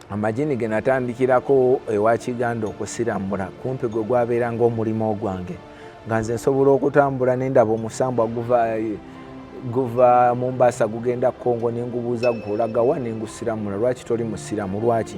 amajini ge natandikirako ewa kiganda okusirambula kumpi gwe gwabeeranga omulimu ogwange nga nze nsobola okutambula nendaba omusambwa guva guva mumbasa gugenda kongo nengubuuza gulaga wa nengusiramula lwaki toli musiramu lwaki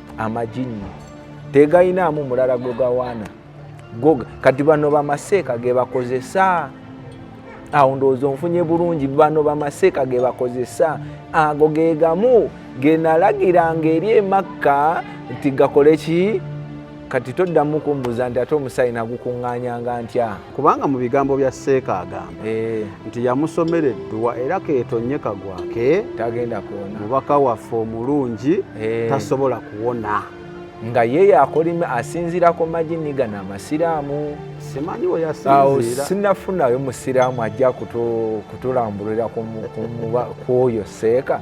amajinni tegalinaamu mulala gwe gawaana goga kati bano bamaseeka ge bakozesa awo ndowooza onfunye bulungi bano bamaseeka ge bakozesa ago ge gamu ge nalagiranga eri emakka nti gakole ki kati toddamu kumbuza nti ate omusaayi nagukuŋŋaanyanga ntya kubanga mu bigambo bya seeka agamba eh. nti yamusomera edduwa era keetonye kagwake tagenda kuwona mubaka waffe omulungi eh. tasobola kuwona nga ye yakolima asinziira ku majini gano amasiraamu simanyi weyasinziiraawo sinafunayo musiraamu ajja kutulambulira ku oyo seeka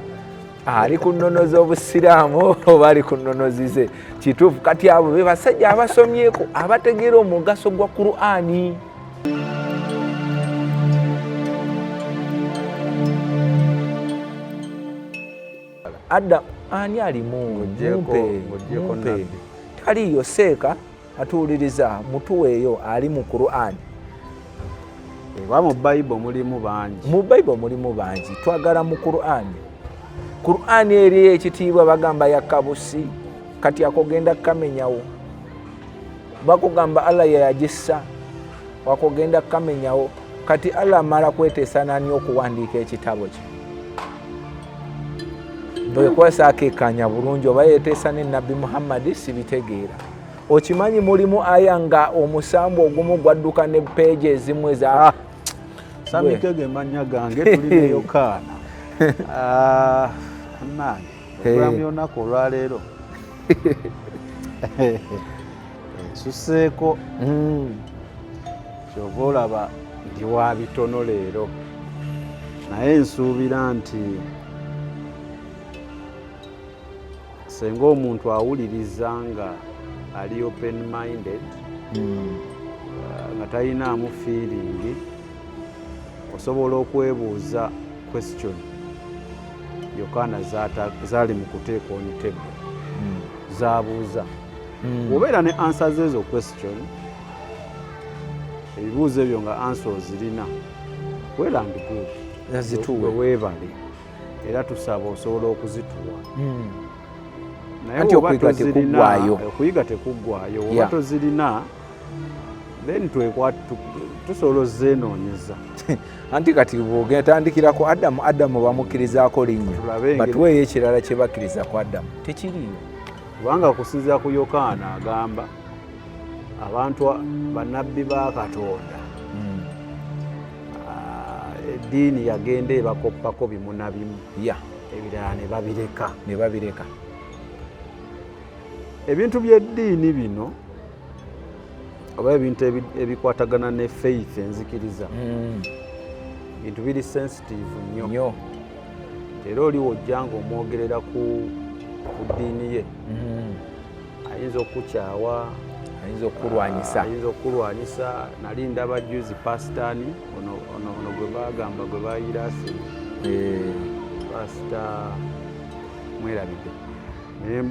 ali ku nnono z'obusiraamu oba ali ku nnono zize kituufu kati abo be basajja abasomyeko abategeera omugaso gwa qur'ani adda ani alimu mumpe taliyo seeka atuwuliriza mutuweeyo ali mu qurani oba mu bible mulimu bangi mu bible mulimu bangi twagala mu qurani qurani eri ekitiibwa bagamba yakabusi kati akogenda kukamenyawo bakugamba allah yeyagissa wakogenda kukamenyawo kati allah amala kweteesa nani okuwandiika ekitabo kye bwekwasa akekanya bulungi oba yeteesa ne nabbi muhammadi sibitegeera okimanyi mulimu aya nga omusambu ogumu gwadduka ne peegi ezimu eza ah, samitego emanya gange tulineyokaana ah, nange okulamu yonaku olwaleero nsuseeko hmm. kyova olaba ndi wa bitono leero naye nsuubira nti senga omuntu awuliriza nga ali open minded hmm. uh, nga talinaamu fiiringi osobola okwebuuza question yokaana zaali mu kuteeka onitebbe hmm. zabuuza hmm. obeera ne ansa zeezo question ebibuuzo ebyo nga ansa ozirina welandgweebale era tusaba osobola okuzituwa hmm. naye oba tozirina okuyiga tekuggwayo oba tozirina then twekwa tusobola ozenoonyeza anti kati bwogenda tandikira ku adamu adamu bamukkirizaako linnya batuweeyo ekirala kye bakkiriza ku adamu tekiriyo kubanga okusinzira ku yokaana agamba abantu bannabbi ba katonda eddiini yagenda ebakoppako bimunabimu ya ebirala ne babireka ne babireka ebintu by'eddiini bino oba ebintu ebikwatagana ne faith enzikiriza hmm. bintu biri sensitive nnyo era oliwo ojja nga omwogerera ku ddiini ye hmm. ayinza okukyawa ayinza okukulwanyisa ah, ayinza okukulwanyisa nali ndaba juzi pasitani ono gwe bagamba gwe bayira asi eh. pasita mwerabide naye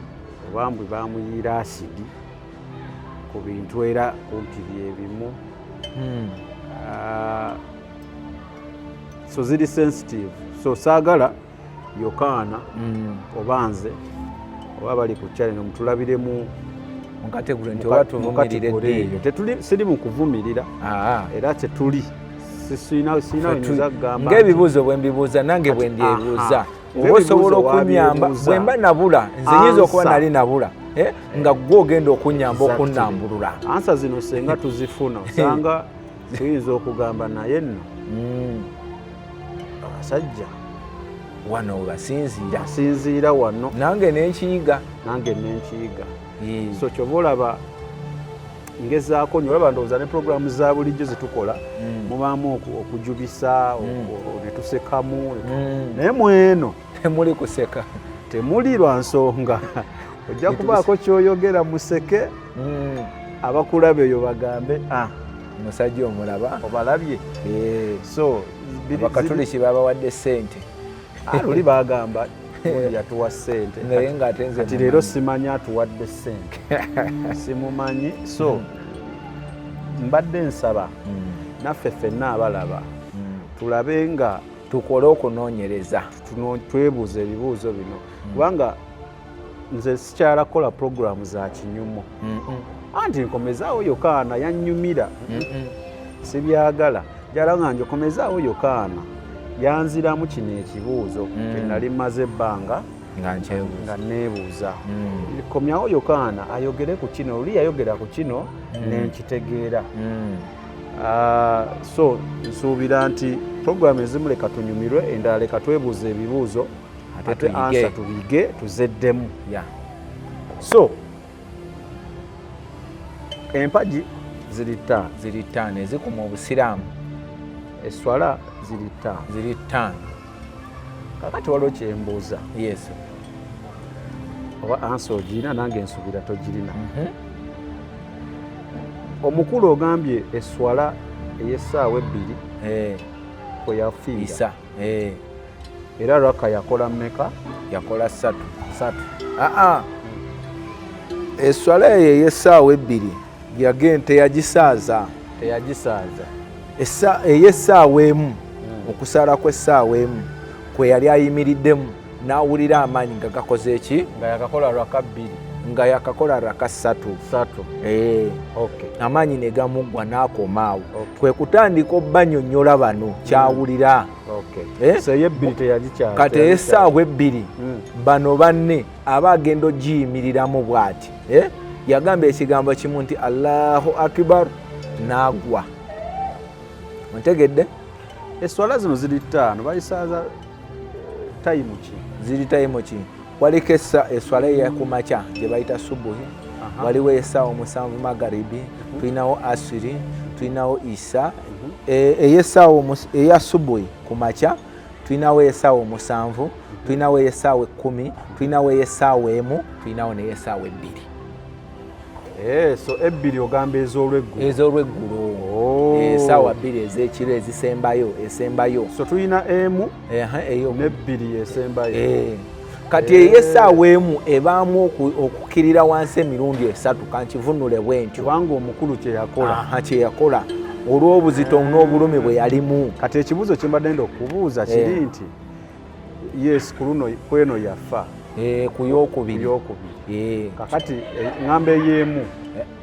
obambwe bamuyiira asidi ku bintu era kumpi byebimu hmm. ah, so ziri sensitive so saagala yokaana mm. oba nze oba bali ku channel mutulabiremu siri mu kuvumirira ah. era tetuli ngaebibuuzo bwembibuuza nange bwendyebuuza oba osobola okunyamba bwemba nabula nze nyinza okuba nali nabula eh, nga gwe ogenda okunyamba okunambulula ansa zino senga tuzifuna osanga tuyinza okugamba naye nno hmm. abasajja wano webasinziira sinziira wano nange nenkiyiga nange nenkiyiga so kyoba olaba ngezaako nyo olaba ndowooza ne programu za bulijjo zetukola mm. mubaamu okujubisa mm. netusekamu mm. naye mweno temuli kuseka temuli lwa nsonga ojja kubaako kyoyogera museke mm, abakulaba eyo bagambe ah, musajja omulaba obalabye eh. so bakatuliki babawadde sente ah, luli bagamba yatuwa sente naye ngaati leero simanyi atuwadde sente simumanyi so mm. mbadde nsaba mm. naffe fenna abalaba tulabe nga tukole okunonyereza twebuuza ebibuuzo bino kubanga nze sikyala kukola pulogulaamu za kinyumu anti nkomezaawo yokaana yannyumira sibyagala jala nga njokomezaawo yokaana yanziramu kino ekibuuzo mm. kenali maze ebbanga nga neebuuza mm. komyawo yokaana ayogere ku kino oli yayogera ku kino mm. nenkitegeera ah, so nsuubira nti puroguramu ezimu leka tunyumirwe endala leka twebuuza ebibuuzo ate ansa tubige tuzeddemu so empagi ziri ttaano ziri ttaano ezikuma obusiraamu eswala ziri ttaano ziri ttaano kakati waliwo kyembuuza yes oba ansa ogirina nange ensubira togirina mhm. omukulu ogambye eswala ey'essaawa ebbiri eh. kwe yafiira Eh. Era raka yakola meka? Yakola satu. Satu. Aa. Ah, ah. Eswala eyo ey'essaawa ebbiri yage teyagisaaza. Teyagisaaza. Ey'essaawa emu, hmm. okusaala kw'essaawa emu kwe yali ayimiriddemu. n'awulira amaanyi nga gakoze eki nga yakakola raka bbiri nga yakakola raka ssatu eh. amaanyi ne gamuggwa n'akoma awo kwe kutandika obanyonyola bano hmm. kyawulira eh? kati esaawa ebbiri hmm. bano banne aba agenda ogiyimiriramu bw'ati eh? yagamba ekigambo kimu nti allahu akibar n'agwa ontegedde eswala zino ziri ttaano bayisaaza tayimu ki ziri tayimu ki waliko eswala eyakumakya gyebayita subuhi waliwo esaawa omusanvu magaribi mhm. tulinawo asiri tulinawo isa mhm. e, eyesaawa eya subuhi ku makya tulinawo esaawa omusanvu mhm. tulinawo esaawa ekkumi tulinawo esaawa emu tulinawo neyesaawa ebbiri Eh, so ebbiri ogamba ez'olweggulo ez'olweggulo oh. eh, esaawa bbiri ez'ekiro ezisembayo esembayo so tulina emu nebbiri esembayo eh. kati eyo esaawa emu ebaamu okukirira wansi emirundi esatu kankivunule bwentyo kubanga omukulu kyeyakola kyeyakola olw'obuzito n'obulumi bwe yalimu kati ekibuuzo kyembadde nda okubuuza kiri nti yes ku luno kweno yafa eh, ku yokubiri eh. kakati eh, ngamba eyemu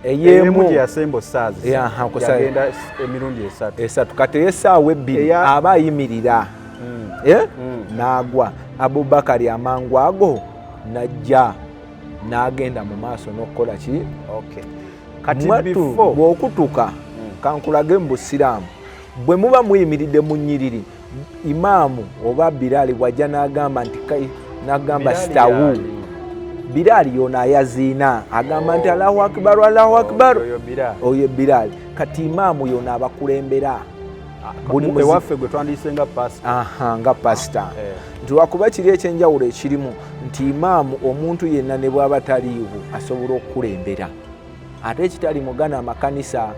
eyemu gyeyasemba osaazi yagenda emirundi esatu esatu kati eyesaawa ebbiri aba ayimirira mm. Mm. n'agwa abubakari amangu ago najja n'agenda mu maaso n'okukola ki bw'okutuka mm. kankulage mu busiraamu bwe muba muyimiridde mu nyiriri imaamu oba biraali bwajja n'agamba nti n'agamba sitawu biraali yoona ayaziina agamba nti allahu akibaru allahu akibaru oyo biraali kati imaamu yoona abakulembera ewaffe gwe twandiyise nga pasita nga pasita ah, eh. nti wakuba kiri ekyenjawulo ekirimu nti imaamu omuntu yenna ne bwaba taliiwo asobola okukulembera ate ekitali mugana amakanisa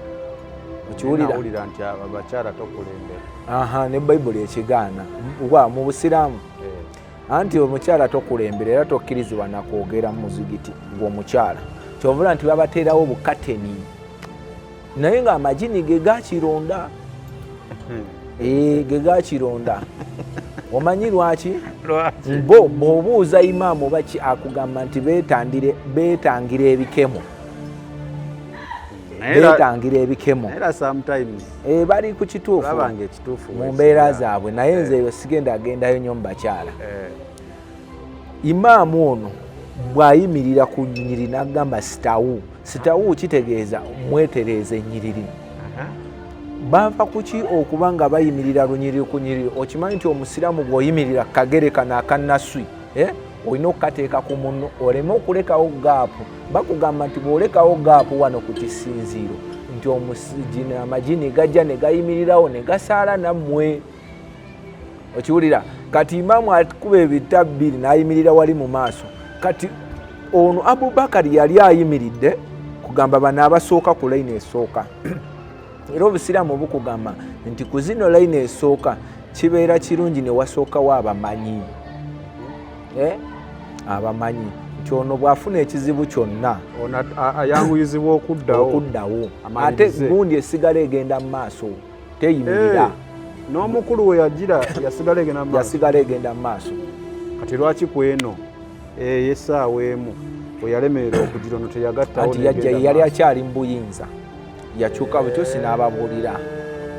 okiwulira nti abakyala tokulembera aha ne bayibuli ekigaana wa mu busiraamu eh. anti omukyala tokulembera era tokkirizibwa nakwogera mu muzigiti gwomukyala kyovula nti babateerawo bukateni naye nga amajini ge gakironda hmm. eh, ge gakironda omanyi lwaki bo bwobuuza imaamu oba ki akugamba nti betangira ebikemo betangira ebikemo eh, bali ku kituufu mu mbeera zaabwe naye nze eyo sigenda agendayo nyo mu bakyala eh. imaamu ono bw'ayimirira ku nyiriri n'agamba sitawu sitawu kitegeeza mwetereeza ennyiriri baava kuki okuba nga bayimirira lunyiriri ku nyiriri okimanyi nti omusiraamu bw'oyimirira kagere kano akanaswi eh? olina okukateeka ku munno oleme okulekawo gaapu bakugamba nti bw'olekawo gaapu wano ku kisinziiro nti amajini gajja ne gayimirirawo ne gasaala nammwe okiwulira kati imaamu akuba ebita bbiri n'ayimirira wali mu maaso kati ono abubakari yali ayimiridde kugamba bano abasooka ku layini esooka era obusiraamu bukugamba nti ku zino layini esooka kibeera kirungi newasookawo abamanyi eh? abamanyi nti ono bwafuna ekizibu kyonna ayanguyizibwa okuddawo ate gundi esigala egenda mu maaso teyimirira n'omukulu we yagira yasigala egenda mu yasigala egenda mu maaso kati lwaki ku eno eyesaawa eh, emu weyalemerera okugira ono teyagattawo nti yajja yali akyali mu buyinza yakyuka bukyusi n'ababuulira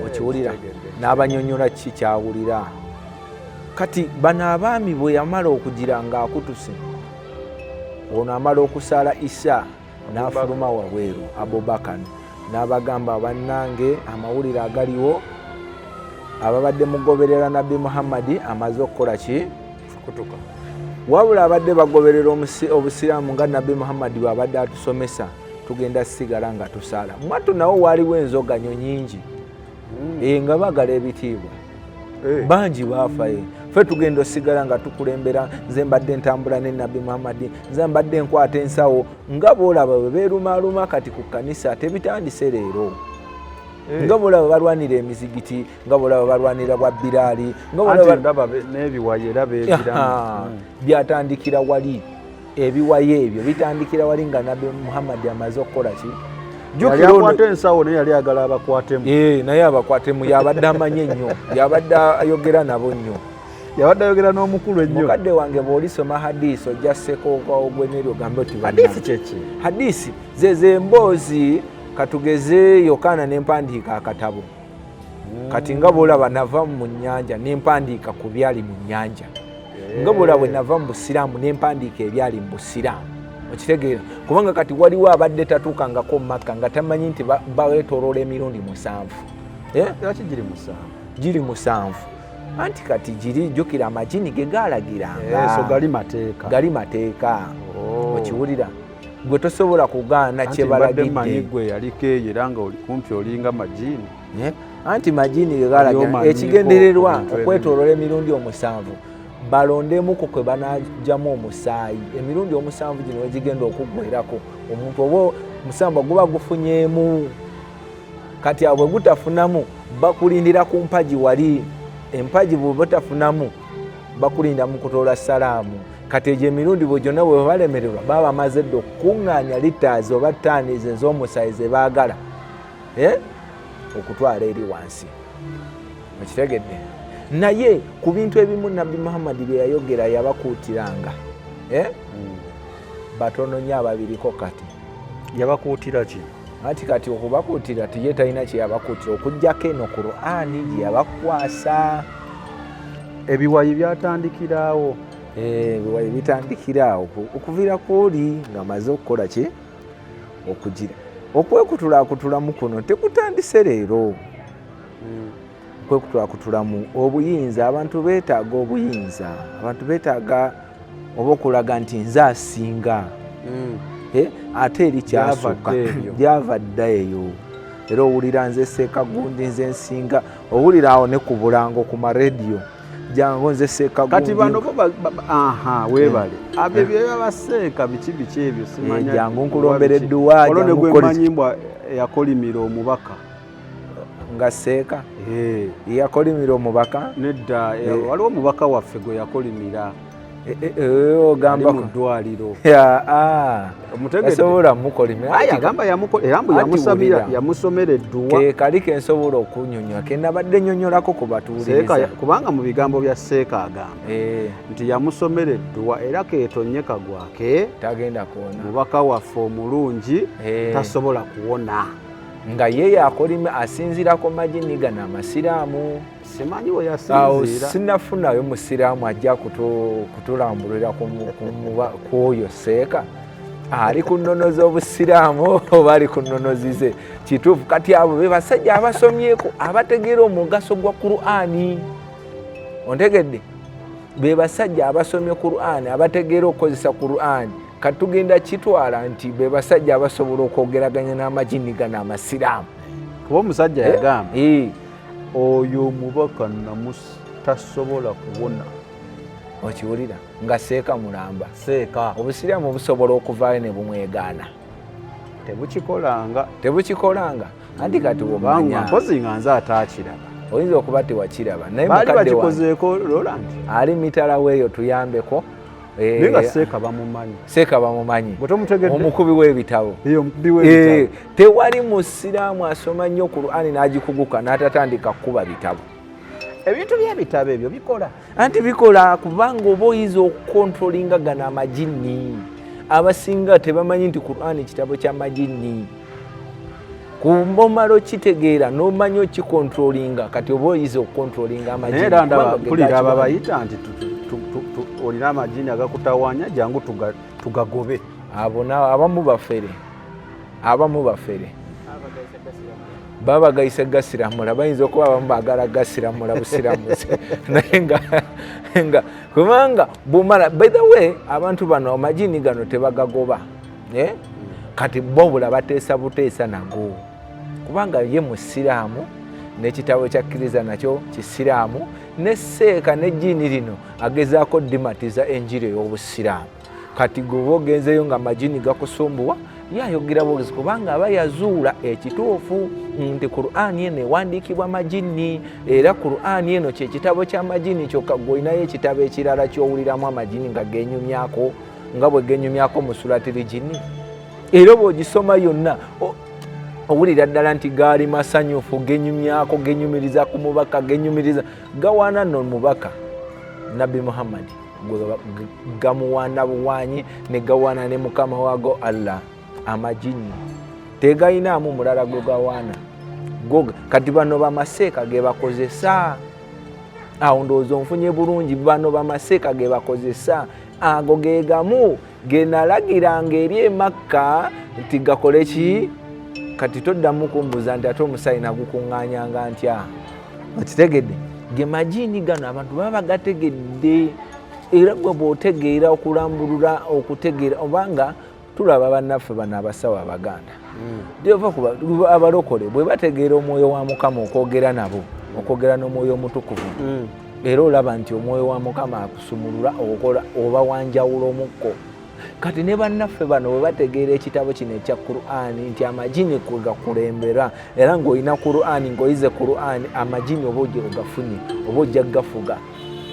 okiwulira n'abanyonyola kiki kyawulira kati bano abaami bwe yamala okugira ng'akutuse ono amala okusaala isa n'afuluma wabweru abubakan n'abagamba bannange amawulire agaliwo ababadde mugoberera nabbi muhammadi amaze okukola ki kutuka wabula abadde bagoberera obusiraamu nga nabbi muhammadi bwabadde atusomesa tugenda sigala nga tusaala mwattu nawo waaliwo enzoganyo nyingi hmm. eh, nga bagala ebitiibwa Eh. bangi baafaye eh. fe tugenda osigala nga tukulembera nze mbadde ntambula ne nabbi muhammadi nze mbadde enkwata ensawo nga boolaba bwe beerumaaluma kati ku kkanisa tebitandise leero eh. nga bolaba balwanira emizigiti nga bolaba balwanira bwa biraali nganebiwayo era bebiraa hmm. byatandikira wali ebiwayo ebyo bitandikira wali nga nabbi muhammadi amaze okukola ki jukirakwata ensawo naye yali agala abakwatemu eh, naye abakwatemu yabadde amanye nnyo yabadde ayogera nabo nnyo yabadde ayogera n'omukulu ennyo mukadde wange bw'olisoma hadisi ojja sekookawo gwe neryo gambe oti hadisi kyeki hadisi zezo emboozi katugeze yokaana n'empandiika akatabo kati nga bwolaba nava mu nyanja nempandiika ku byali mu nyanja nga bwolaba bwe nava mu busiraamu nempandiika ebyali mu busiraamu okitegeera kubanga kati waliwo abadde tatuukangako mu makka nga tamanyi nti bawetoloola emirundi musanvu eh? giri musanvu anti kati giri jjukira amajini ge gaalagiranga eh, gali mateeka oh. okiwulira gwe tosobola kugaana kyebalagidde gwe yaliko eyo era nga oli kumpi olinga majini eh? anti majini gegalaga ekigendererwa okwetolola emirundi omusanvu balondemuko kwe banajjamu omusaayi emirundi omusanvu gino wegigenda okuggwerako omuntu oba omusambwa guba gufunyeemu kati abwe gutafunamu bakulindira ku mpagi wali empagi bwebatafunamu bakulinda mukutoola salaamu kati egyo emirundi bwe gyonna bwe balemererwa baba bamaze dda okukuŋŋaanya litaazi oba taanizi ez'omusaayi ze baagala eh? okutwala eri wansi okitegedde naye ku bintu ebimu nabbi muhammadi bye yayogera yabakuutiranga eh? hmm. batono nyo ababiriko kati yabakuutira ki anti kati okubakuutira tiye talina kyeyabakuutira okugyako eno qurani gyeyabakwasa ebiwayi byatandikiraawo eh, ebiwayi bitandikiraawo okuviira kwoli nga maze okukola ki okugira okwekutulaakutulamu kuno tekutandise leero hmm. kwekutulakutulamu obuyinza abantu betaaga obuyinza abantu betaaga oba okulaga nti nze asinga mm. eh, ate eri kyasooka gyava dda eyo era owulira nze seeka gundi nze nsinga owulira awo ne ku bulango ku marediyo jangu nze seeka gundi kati bano aha webale eh. abyo eh. byeba baseeka biki biki ebyo simanya jangu nkulombera edduwa jangu kolimbwa yakolimira omubaka nga seeka eh. yakolimira omubaka nedda eh, eh. waliwo omubaka waffe gwe yakolimira ogamba mu ddwaliro ah. omutegesobola mukolimagamba yamusabira yamusomera edduwa kekali kensobola okunyonyola kenabadde nyonyolako ku batuuliriza kubanga mu bigambo bya seeka agamba nti yamusomera edduwa era ketonye kagwake tagenda kuwona mubaka waffe omulungi tasobola kuwona nga ye yakolime asinzirako majini gano amasiraamu simanyi weyasinziira sinafunayo musiraamu ajja kutulambulira kwoyo seeka ali ku nnono z'obusiraamu oba ali ku nnono zize kituufu kati abo be basajja abasomyeko abategeera omugaso gwa qurani ontegedde be basajja abasomye qurani abategeera okukozesa qurani kati tugenda kitwala nti be basajja abasobola okwogeraganya n'amajini gano amasiraamu kuba omusajja eh? yagamba eh. oyo omubaka namusi tasobola kuwona okiwulira nga seeka mulamba seeka obusiraamu obusobola okuvaayo ne bumwegaana tebukikolanga tebukikolanga anti kati bumanya mpozi nga nze ataakiraba oyinza okuba tewakiraba naye mukadde wa ali mitala weeyo tuyambeko Eh, naye nga seeka bamumanyi seeka bamumanyi omukubi w'ebitabo eh, tewali musiraamu asoma nnyo qurani n'agikuguka n'atatandika kukuba bitabo ebintu byebitabo ebyo bikola anti bikola kubanga oba oyinza okukontrolinga gano amajinni abasinga tebamanyi nti qurani kitabo kya majinni kumbomalo kitegeera nomanya okikontrolinga kati oba oyiza okukontrolinga amajimpulira abo abayita nti olina amajini agakutawanya jangu tugagobe abo abamu bafere abamu bafere babagayise gasiramula bayinza okuba abamu bagala gasiramula busiramuzi naye nga kubanga bumala by the way abantu bano amajini gano tebagagoba eh? kati bobula bateesa buteesa nago kubanga ye musiraamu nekitabo kyakkiriza nakyo kisiraamu ne seeka ne jiini lino agezaako dimatiza enjiri ey'obusiraamu kati gweoba ogenzeyo nga majini gakusumbuwa yayogera bwogezi kubanga aba yazuula ekituufu nti qurani eno ewandiikibwa majini era qurani eno kyekitabo kyamajini kyokka gweolinayo ekitabo ekirala kyowuliramu amajini nga genyumyako nga bwe genyumyako mu sulatiri gini era oba ogisoma yonna owulira ddala nti gaali masanyufu genyumyako genyumiriza ku mubaka genyumiriza gawaana no mubaka nabbi muhammadi gamuwaana buwaanyi ne gawaana ne mukama waago allah amajinni tegalinaamu mulala gwe gawaana goga kati bano bamaseeka gebakozesa awo ndowooza onfunye bulungi bano bamaseeka gebakozesa ago ge gamu ge nalagiranga eri emakka nti gakole ki kati toddamu kumbuza nti ate omusaayi nagukuŋŋanyanga ntya okitegedde ge majiini gano abantu baba bagategedde era gwe bwotegeera okulambulula okutegeera obanga tulaba bannaffe bano abasawo abaganda jova kuba abalokole bwe bategeera omwoyo wa mukama okwogera nabo okwogera n'omwoyo omutukuvu era olaba nti omwoyo wa mukama akusumulula okola oba wanjawula omukko kati ne bannaffe bano bwe bategeera ekitabo kino ekya qurani nti amajini kwegakulembera era ng'olina qurani ng'oyize qurani amajini oba oja ogafunye oba ojja gafuga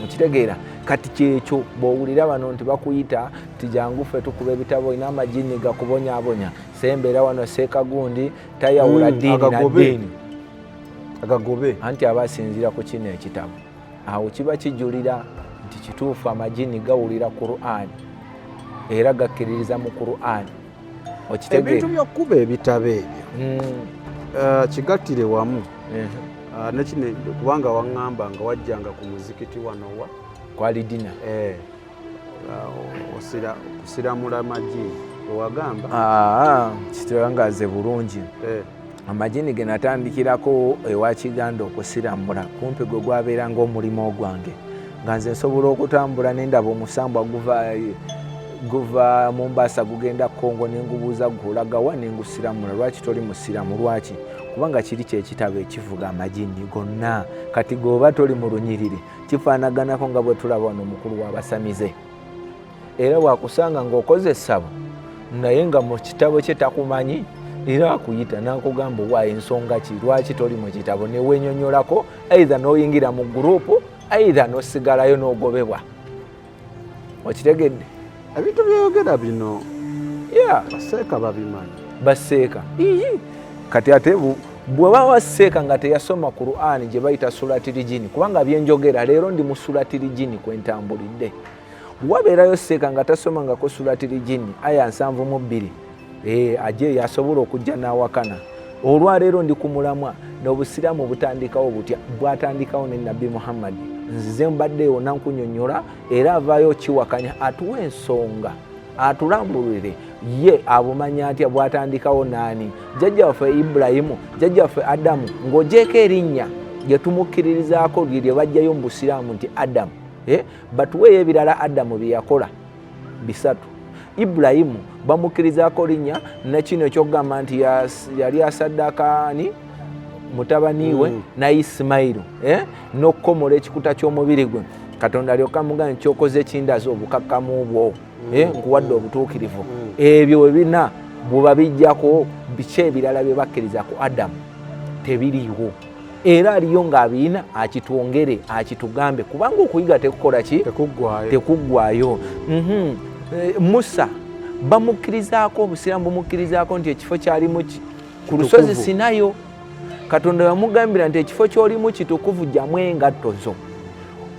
okitegeera kati kyekyo bwowulira bano nti bakuyita tijangu ffe tukuba ebitabo olina amajini gakubonyabonya sembera wano sekagundi tayawula mm, dini na dini agagobe anti aba asinzira ku kino ekitabo awo kiba kijulira nti kituufu amajini gawulira qurani era gakkiririza mu qurani ebintu byokuba ebitabo ebyo mm. eh, kigattire wamu eh. ah, nekine kubanga waŋŋamba nga wajjanga ku muzikiti wanowa kwalidina eh. kusiramula amagi ewagamba ah, kiterangaze bulungi eh. amajini ge natandikirako ewa kiganda okusiramula kumpi gwe gwabeera ngaomulimu ogwange nga nze nsobola okutambula nendaba omusambwa guva guva mumbasa gugenda kongo nengubuuza gulagawa nengusiramula lwaki toli musiramu lwaki kubanga kiri kyekitabo ekivuga amajini gonna kati goba toli mu lunyiriri kifaanaganako nga bwe tulaba wano omukulu w'abasamize era wakusanga ng'okoze essabo naye nga mu kitabo kye takumanyi era akuyita n'akugamba owa ensonga ki lwaki toli mu kitabo ne wenyonyolako aidha n'oyingira mu guruupu aidha n'osigalayo n'ogobebwa okitegedde ebintu byeyogera bino ya baseeka babimanyi baseeka kati ate bweba waseeka nga teyasoma qurani gye bayita sulatirijini kubanga byenjogera leero ndi mu sulatirijini kwentambulidde wabeerayo seeka nga tasomangako sulatirijini aya nsanvu mu bbiri ee eh, aje yasobola okujja n'awakana olwaleero ndi ku mulamwa n'obusiraamu butandikawo butya bwatandikawo ne nabbi muhammadi nzize mbadde yona nkunyonyola era avaayo kiwakanya atuwa ensonga atulambulire ye abumanya atya bwatandikawo naani jjajja waffe ibulayimu jjajja waffe adamu ng'ojeeko erinnya lyetumukkiririzaako lye lye bajjayo mu busiraamu nti adamu eh, batuweeyo ebirala adamu bye yakola bisatu ibulayimu bamukkirizako linnya nekino ekyokugamba nti yali asaddakaani mutabani we mm. na isimayiru eh? n'okukomola ekikuta ky'omubiri gwe katonda alyoka muga nti kyokoze ekindaza obukakkamu bwo mm. eh? nkuwadde mm. obutuukirivu mm. ebyo we bina bwebabijjako biki ebirala bye bakkiriza ku adamu tebiriiwo era aliyo ng'abiyina akitwongere akitugambe kubanga okuyiga tekukola ki tekuggwayo mhm. eh, musa bamukkirizaako obusiraamu bumukkirizaako nti ekifo kyalimu ki ku lusozi sinayo katonda yamugambira nti ekifo kyolimu kitukuvu jamu engatto zo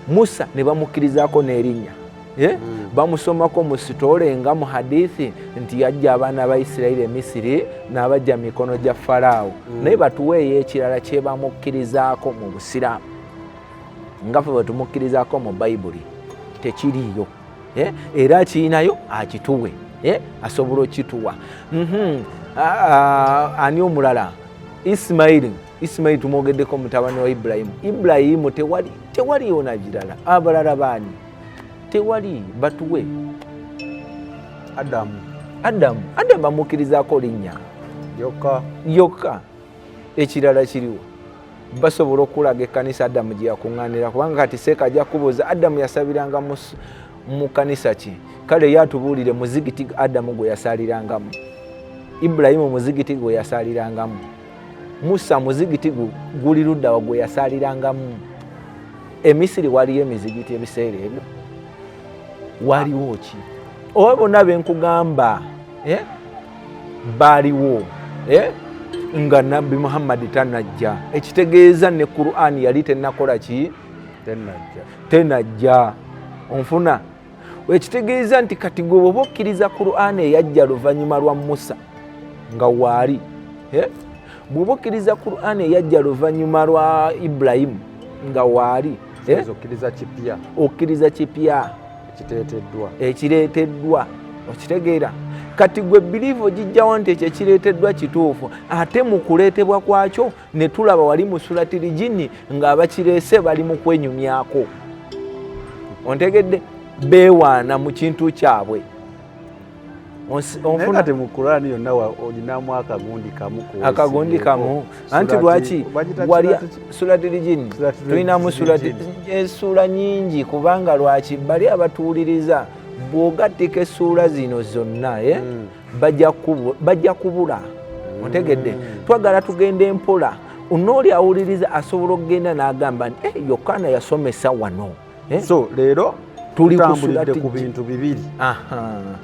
musa ne bamukkirizaako n'erinnya Eh? Hmm. bamusomako mu sitole nga mu hadithi nti yajja abaana ba isirairi emisiri n'abajja mikono gya faraawo hmm. naye batuweeyo ekirala kyebamukkirizaako mu busiraamu nga fe bwetumukkirizaako mu bayibuli tekiriyo eh? era akirinayo akituwe eh? asobola okituwa mhm. ani omulala isimairi isimairi tumwogeddeko mutabani wa ibulayimu ibulayimu tewali yona girala abalala baani tewali batuwe adamu adamu adamu amukirizako linnya yokka yokka ekirala kiriwo basobola okulaga ekkanisa adamu gye yakuŋŋaanira kubanga kati seeka ajja kubuuza adamu yasabiranga mu kkanisa ki kale ye atubuulire muzigiti adamu gwe yasaalirangamu ibulayimu muzigiti gwe yasaalirangamu musa muzigiti guli luddawa gwe yasalirangamu emisiri waliyo emizigiti ebiseera ebyo waliwo ki oba bonna benkugamba eh? baaliwo eh? nga nabbi muhammadi tanajja ekitegeeza ne qurani yali tenakola ki tenajja onfuna ekitegeeza nti kati gwe bwoba okkiriza qur'ani eyajja luvannyuma lwa musa nga waali eh? bwoba okkiriza qur'ani eyajja luvannyuma lwa ibulayimu nga waali eh? okkiriza kipya ekireeteddwa okitegeera kati gwe biliivu ogijjawo nti ekyo ekireeteddwa kituufu ate mu kuleetebwa kwakyo ne tulaba wali mu sulatiri jini ng'abakireese bali mu kwenyumyako ontegedde beewaana mu kintu kyabwe akagundi kamu anti lwaki wali sulatiri jini tulinamu esuula eh, nyingi kubanga lwaki bali abatuwuliriza bw'ogattika essuula zino zonna eh? hmm. bajja kubula otegedde twagala tugenda empola nooli awuliriza asobola okugenda n'agamba nti eh, yokaana yasomesa wano eh? so leero tutambulidde ku bintu bibiri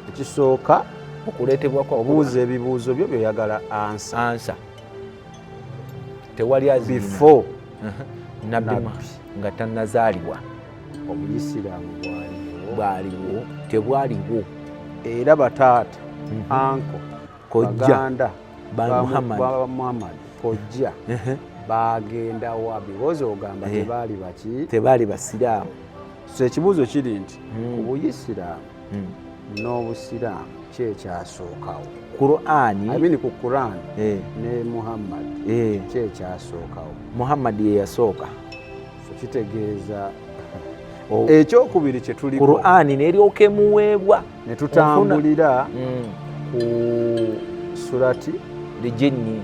ekisooka okuleetebwa kwa obuuza ebibuuzo byo byoyagala ansa ansa tewali azibifo nabbi nga tannazaalibwa obuyisiraamu bwaliwo bwaliwo tebwaliwo era bataata mhm. anko kojjaganda muhammad kojja bagenda wa biwozi ogamba eh. tebaali baki tebaali basiraamu so ekibuuzo kiri nti hmm. ku buyisiraamu hmm. n'obusiraamu ki ekyasookawo qurani amini ku quran eh. ne muhammad eh. ki ekyasookawo muhammad ye yasooka kitegeeza oh. ekyokubiri kyetuli qurani neryoka emuweebwa netutambulira mm. ku surati lijinni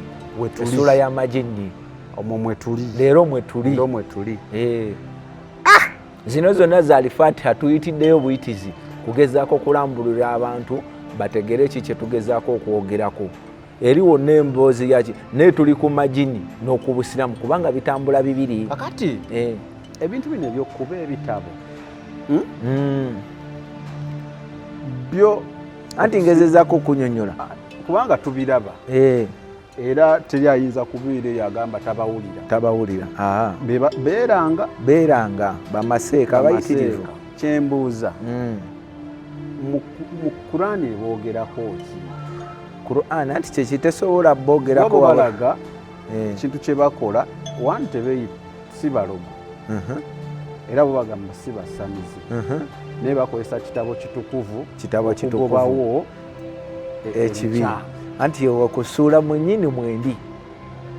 esula yamajinni omwo mwetuli leero mwetuli ndo mwetuli eh. ah! zino zonna zali fatiha tuyitiddeyo buyitizi kugezaako okulambulira abantu bategere ki kyetugezaako okwogerako eriwo nemboozi yaki naye tuli ku majini n'okubusiramu kubanga bitambula bibiri kakati eh. ebintu bino ebyokuba ebitabo hmm? Hmm. byo anti ngezezako okunyonyola ah, kubanga tubiraba eh. era teri ayinza kubiira eyo agamba tabawulira tabawulira ah. beeranga beeranga bamaseeka abayitirivu kyembuuza hmm. mu kurani eboogerako ki Qur'an anti kyekitesobola bogerako balaga eh. ekintu kyebakola one tebeyi si balogo uh-huh. era bubagamba si basamizi uh-huh. naye bakozesa kitabo kitukuvu kitabo kitukuvubawo e- ekibi anti okusuula mwenyini mwendi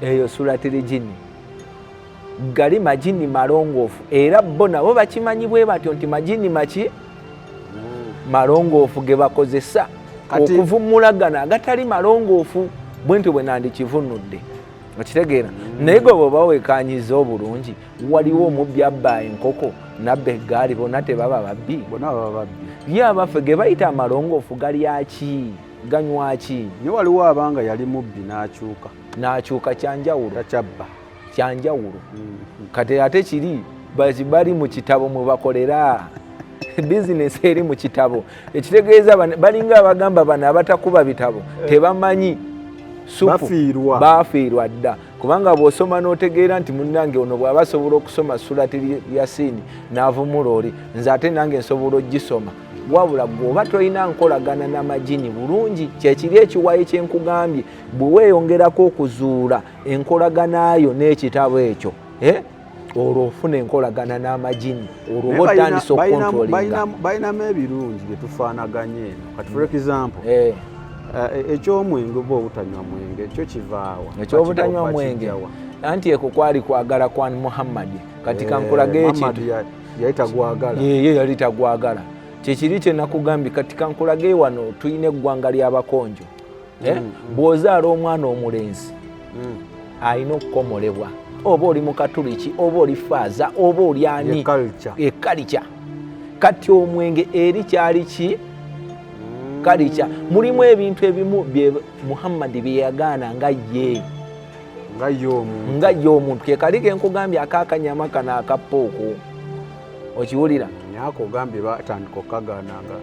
eyo sulatiri jini gali majini malongoofu era bo nabo bakimanyi bwe batyo nti majini maki hmm. malongoofu ge bakozesa okuvumula gano agatali malongoofu bwentyo bwe nandikivunudde okitegeera hmm. naye gwe bwoba wekanyiza obulungi waliwo omubbi abba enkoko nabba eggaali bona tebaba babbi ye abaffe ge bayita amalongoofu galyaki ganywaki naye waliwo abanga yali mubbi n'akyuka n'akyuka kyanjawulo takyabba kyanjawulo kati ate kiri bali mu kitabo mwe bakolera bizinesi eri mu kitabo ekitegeeza balinga abagamba bano abatakuba bitabo eh. tebamanyi sufubafiirwa bafiirwa dda kubanga bw'osoma n'otegeera nti munnange ono bw'aba asobola okusoma sulati yasiini n'avumula oli nze ate nange nsobola ogisoma wabula gweoba tolina nkolagana n'amajini bulungi kyekiri ekiwayi kyenkugambye bwe weeyongerako okuzuula enkolagana yo n'ekitabo ekyo eh? olwo ofuna enkolagana n'amajini olwoba otandisa okukontrolingabalinamu ebirungi byetufaanaganye eno kati for mm. example eh. Eh, e, ekyomwenge oba obutanywa mwenge ekyo kivaawa ekyobutanywa mwenge anti eko kwali kwagala kwa muhammadi kati eh, kankulage ekintu yali tagwagala ye yali tagwagala kyekiri kyenakugambye kati kankulage wano tulina eggwanga ly'abakonjo eh? mm, mm. bw'ozaala omwana omulenzi mm. alina okukomolebwa oba oli mukatuliki oba oli faaza oba oli ani ekalica kati omwenge eri kyali ki kalica mulimu ebintu ebimu bye muhammadi byeyagaana nga ye nga ye omuntu kekali kenkugambye akakanyama kano akappa okwo okiwulira nyako ogambye batandika okukagaana nga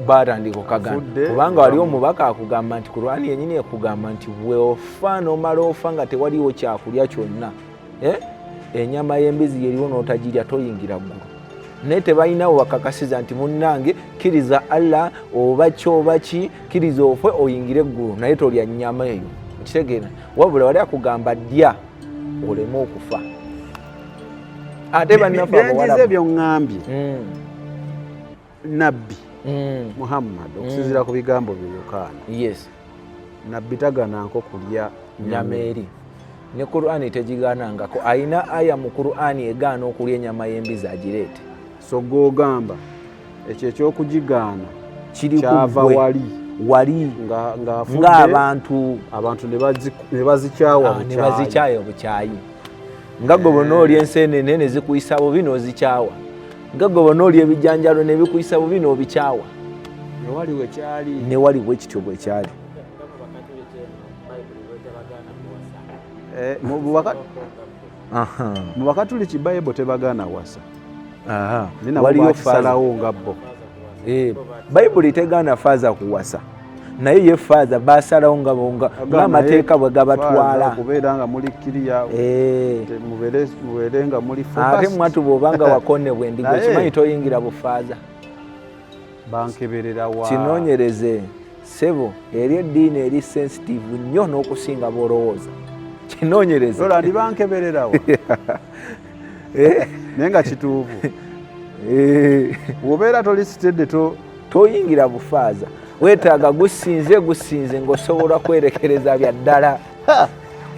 batandika okukagaana kubanga wali omubaka akugamba nti kurani yenyini ekugamba nti weofa nomala ofa nga tewaliwo kyakulya kyonna eh? enyama y'embizi yeriwo n'otagirya toyingira ggulu naye tebalinawo bakakasiza nti munnange kkiriza allah oba ki oba ki kkiriza ofwe oyingire eggulu naye tolya nnyama eyo okitegeera wabula wali akugamba dya oleme okufa ate bannafebyenjize byoŋŋambye hmm. nabbi hmm. muhammad hmm. okusinzira ku bigambo bye yokaana nabbi tagananko kulya nyama eri ne qurani tegiganangako ayina aya mu qurani egaana okulya enyama y'embizi agireete so gogamba ekyo ekyokugigaana kyava wali wali ng'abantu abantu ne bazikyawa ah, obukyayi nga gwe bona oli enseenene ne zikuyisa bubi n'ozikyawa nga gwe bona oli ebijanjalo ne bikuyisa bubi n'obikyawa newali bwe kityo bwe kyali eh, mu bakatuliki bayibo tebagaana wasa waliyo kusalawo nga bo eh, bayibuli tegaana faaza kuwasa naye ye faaza basalawo nga bonga ngamateeka bwe gabatwala kubeera nga muli kiriya eh. mubeere nga muli ate mwatu bwobanga wakonebwa endiga okimanyi toyingira bufaaza bankeberera wa kinonyereze sebo eri eddiini eri sensitive nnyo n'okusinga bwolowooza kinonyereze ola ndi bankeberera wa eh? naye nga kituufu eh. wobeera toli sitedde to toyingira bufaaza wetaaga gusinze gusinze ngaosobola kwerekereza bya ddala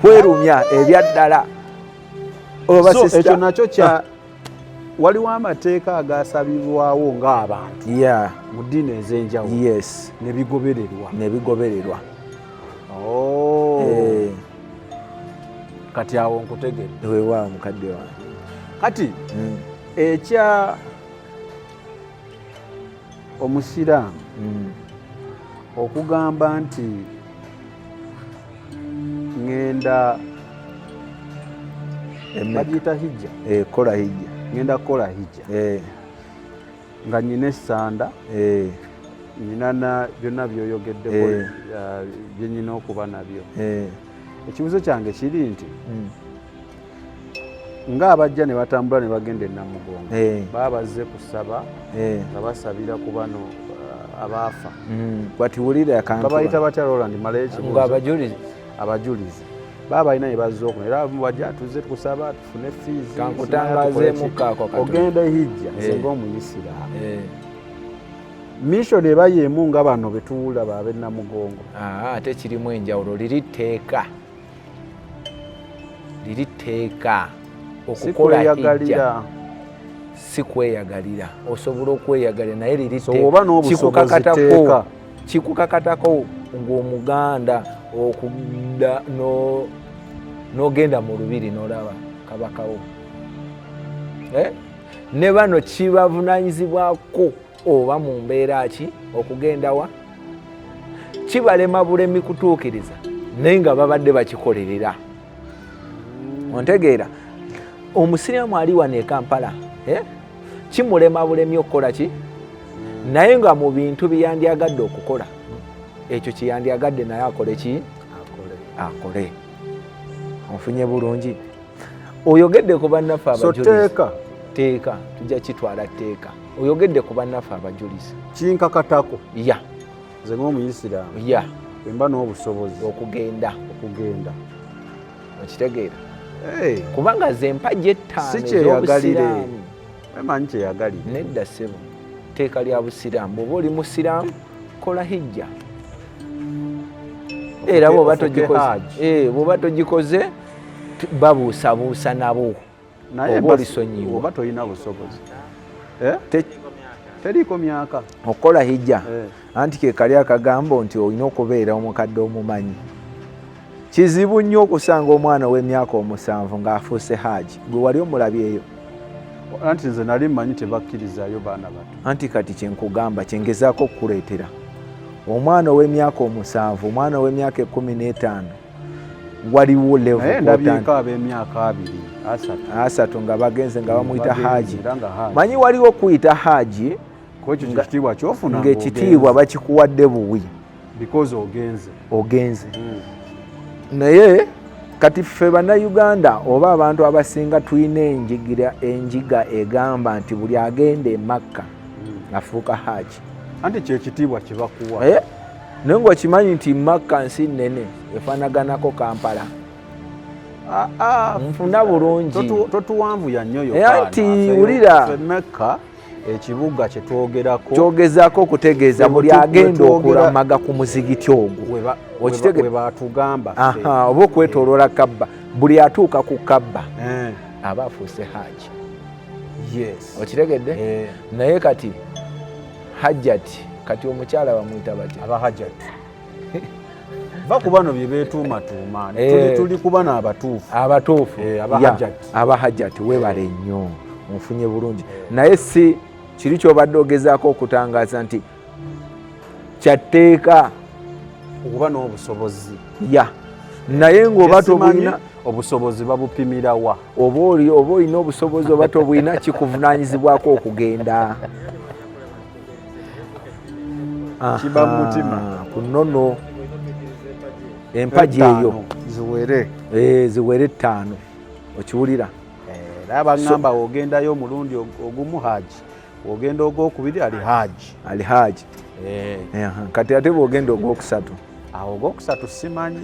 kwerumya ebya ddala oba ekyo nakyo kya ah. waliwo amateeka agasabibwawo ng'abantu mu ddiini ez'enjawulo nebigobererwa nebigobererwa oh. eh. kati awo nkutegere wewa mukadde wange kati hmm. ekya omusiraamu mm. okugamba nti ŋenda bagiyita hijja eh, kola hijja ŋenda kukola hijja eh. nga nyina esanda eh. nyina na byonna byoyogeddeko byenyina okuba nabyo ekibuzo kyange kiri nti mm. nga abajja ne batambula ne bagenda enamugongo eh. baba bazze kusaba eh. nga basabira ku bano uh, abaafa batiwulirababayita mm. batya roland malekibuzo abajulizi abajulizi baba balina ne bazze okuno era bajja tuze tukusaba tufune fiiziogenda ehijja nze eh. ngaomuyisiraamu mission eba yemu nga bano betuwulira babe namugongo ah, ate kirimu enjawulo liri tteeka liri tteeka okukola hijja si kweyagalira osobola okweyagalira naye liri kikukakatako kikukakatako ng'omuganda okudda n'ogenda mu lubiri n'olaba kabakawo eh? ne bano kibavunanyizibwako oba mu mbeera ki okugendawa kibalema bulemi kutuukiriza naye nga babadde bakikolerera ontegeera omusiraamu ali wano ekampala eh? kimulema bulemi okukola ki naye nga mu bintu byeyandyagadde okukola ekyo kyeyandyagadde naye akole ki akole onfunye bulungi oyogedde ku bannaffe abajulizi teeka tujja kitwala teeka oyogedde ku bannaffe abajulizi kinkakatako ya nze ngaomuyisiraamu ya emba n'obusobozi okugenda okugenda okitegeera kubanga ze mpagi ettaano ekyobusiraamu emanyi kyeyagalire nedda ssebo teeka lya busiraamu bwoba oli musiraamu kola hijja era bwoba togikoze eh, babuusabuusa nabo oba olisonyiwa oba tolina busobozi eh? teriiko myaka okukola hijja eh. anti kekali akagambo nti olina okubeera omukadde omumanyi kizibu nnyo okusanga omwana ow'emyaka omusanvu ng'afuuse haaji gwe wali omulabyeyo anti nze nali mmanyi tebakkirizayo baana bato anti kati kyenkugamba kyengezaako okukuleetera omwana ow'emyaka omusanvu omwana ow'emyaka ekkumi n'etaano waliwo levonayeendabyeeko ab'emyaka abiri asatu nga bagenze nga bamuyita haaji manyi waliwo kuyita haaji ngaekitiibwa bakikuwadde buwi ogenze ogenze hmm. naye kati ffe bannayuganda oba abantu abasinga tulina enjigira enjiga egamba nti buli agenda emakka hmm. afuuka haaji anti kyekitiibwa kyebakuwa eh? naye ngaokimanyi nti makka nsi nene efanaganako kampala ah, ah, nfuna bulungitotuwanvuyanyoyoanti eh, wulira ekibuga kyetwogerako kyogezako okutegeeza buli agenda okulamaga ku muzigiti ogwo okitegwebatugamba oba okwetoloola kabba buli atuuka ku kabba eh. aba afuuse haaji okitegedde eh. naye kati hajjat kati omukyala bamuyita batya aba hajjat va ku bano bye beetuumatuuma eh. tuli ku bano abatuufu abatuufu eh, aba hajjat webale nnyo nfunye bulungi naye si kiri kyobadde ogezaako okutangaza nti kyatteeka okuba n'obusobozi ya naye ng'oba tobulina obusobozi babupimirawa oba oli oba olina obusobozi oba tobulina kikuvunaanyizibwako okugenda kiba mutima ku nono empagi eyo ziwere eh, ziwere ettaano okiwulira era eh, baŋŋamba ogendayo omulundi ogumu haaji ogenda ogwokubiri ali haaji ali haaji eh. kati ate bwogenda ogwokusatu awo ogwokusatu simanyi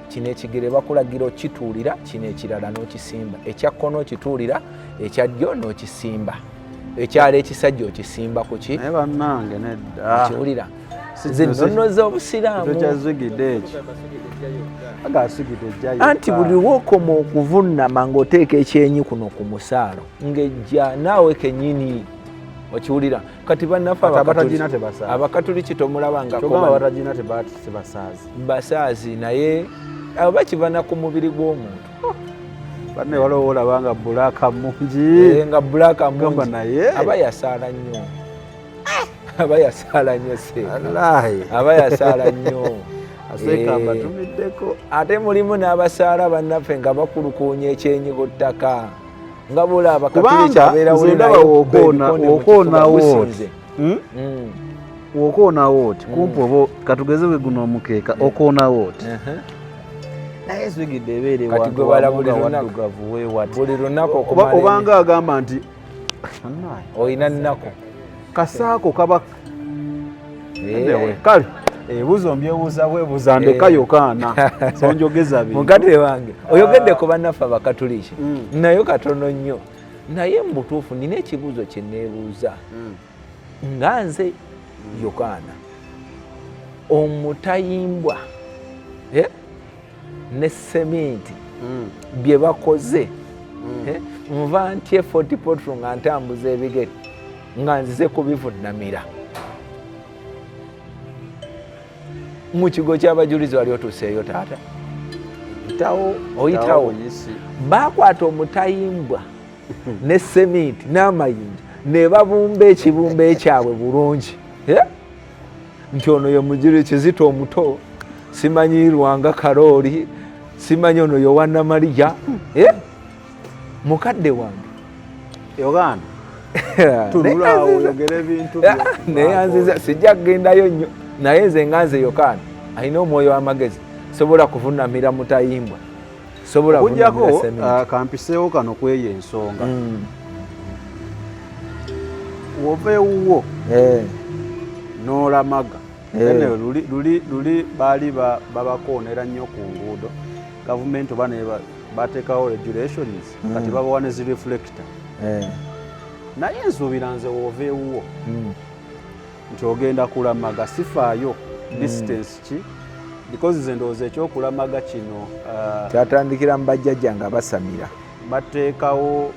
kino ekigere bakulagira okituulira kino ekirala n'okisimba ekya kkono okituulira ekya ddyo n'okisimba ekyalo ekisajja okisimba ku ki naye bannange nedda kiwulira zinnono z'obusiraamu anti buli wokoma okuvunnama ng'oteeka ekyenyi kuno ku musaalo ng'ejja naawe kenyini okiwulira kati bannaffe abakatuliki tomulabangakobasaazi naye abo bakivana ku mubiri gw'omuntu oh. banne waliwo wolaba nga bulaaka mungi eh, nga bulaaka mungi naye aba yasaala nnyo ah! aba yasaala nnyo se aba yasaala nnyo asekaambatumiddeko eh, ate mulimu n'abasaala bannaffe nga bakulukuunya ekyenyi ku ttaka nga bwolaba kubanga nze ndaba wokoonawo oti hmm? hmm. wokoonawo oti hmm. kumpi oba katugeze bwe guno omukeeka okoonawo oti naye zigidde ebeere wantuwaddugavu wewati obanga agamba nti olina nnaku kasaako kaba eh. kale ebuzo eh, mbyebuuza bwebuuza ndeka eh. yokaana sonjogeza bi mugate wange oyogedde ah. ku bannaffe abakatuliki mm. nayo katono nnyo naye mu butuufu nina ekibuuzo kye neebuuza mm. nga nze mm. yokaana omutayimbwa eh? ne seminti mm. bye bakoze mm. eh, nva ntye fort potro nga ntambuza ebigere nga nzize kubivunamira mu kigo kyabajulizi wali otuuseeyo taata oyitawo oyitawo bakwata omutayimbwa ne seminti n'amayinja ne babumba ekibumba ekyabwe bulungi eh? nti ono ye mujiri kizito omuto simanyi lwanga karooli simanyi ono yowana malija eh? mukadde wange yoganda neyanziza sijja kugendayo nnyo naye nze nga nze yokaana alina omwoyo w'amagezi sobola kuvunamira mutayimbwa sobola okujjako uh, kampiseewo kano kweyo ensonga mm. wova ewuwo eh. n'olamaga eh. luli baali babakoonera nnyo ku nguudo gavumenti oba bateekawo regulations mm. kati babawa ne zireflecta eh. naye nsuubira nze wova ewuwo mm. nti ogenda kulamaga sifaayo hmm. distance ki because ze ndowooza ekyokulamaga kino uh, kyatandikira mu bajjajja nga basamira bateekawo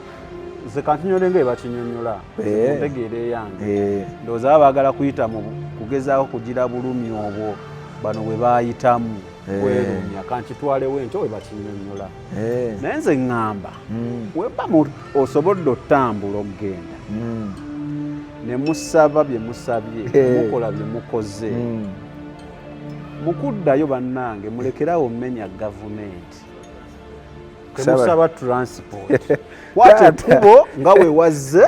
ze kantinyole nga ebakinyonyola eh. ntegeera eyange eh. ndowooza baba baagala kuyita mu kugezaako kugira bulumi obwo bano bwe baayitamu eh. kwerumya kankitwalewo enkyo bwe bakinyonyola eh. naye nze ŋŋamba mm. weba osobodde otambula okugenda mm. ne musaba bye musabye eh. mukola bye mukoze mm. mukuddayo bannange mulekerawo mmenya gavumenti temusaba transport kwata ekkubo nga wewazze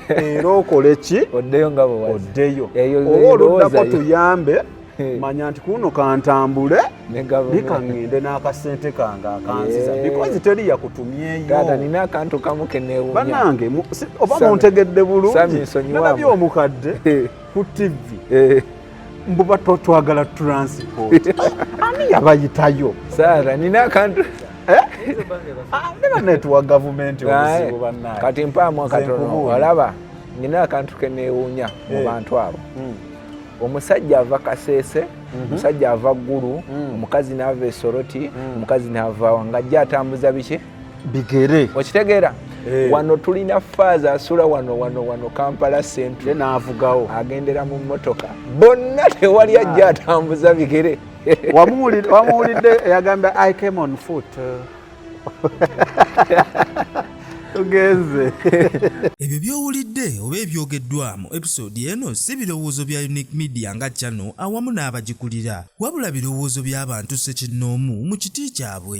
era okole ki oddeyo nga bwe oddeyo oba oluddako tuyambe manya nti kuno kantambule bikaŋŋende n'akasente kange akanziza bikozi teri yakutumyeyobanange oba muntegedde bulungi nabyo omukadde ku tivi mbuba twagala transport ani yabayitayo sara nina akantu eh? ah, nebanetwa gavumenti obuzibu eh, banaye kati mpaamu akatono olaba nina akantu kenewuunya mu eh. bantu abo hmm. omusajja ava kaseese mhm. omusajja ava ggulu hmm. omukazi naava esoroti hmm. omukazi naava wangajja atambuza biki bigere okitegeera hey. Eh. wano tulina faaza asula wano wano wano kampala central naavugawo agendera mu mmotoka bonna tewali ajja atambuza bigere wamuwulidde yagamba i came on foot tugenze ebyo byowulidde oba ebyogeddwamu episode eno si birowoozo bya unique media nga channel awamu n'abagikulira wabula birowoozo by'abantu ssekinnoomu mu kiti kyabwe.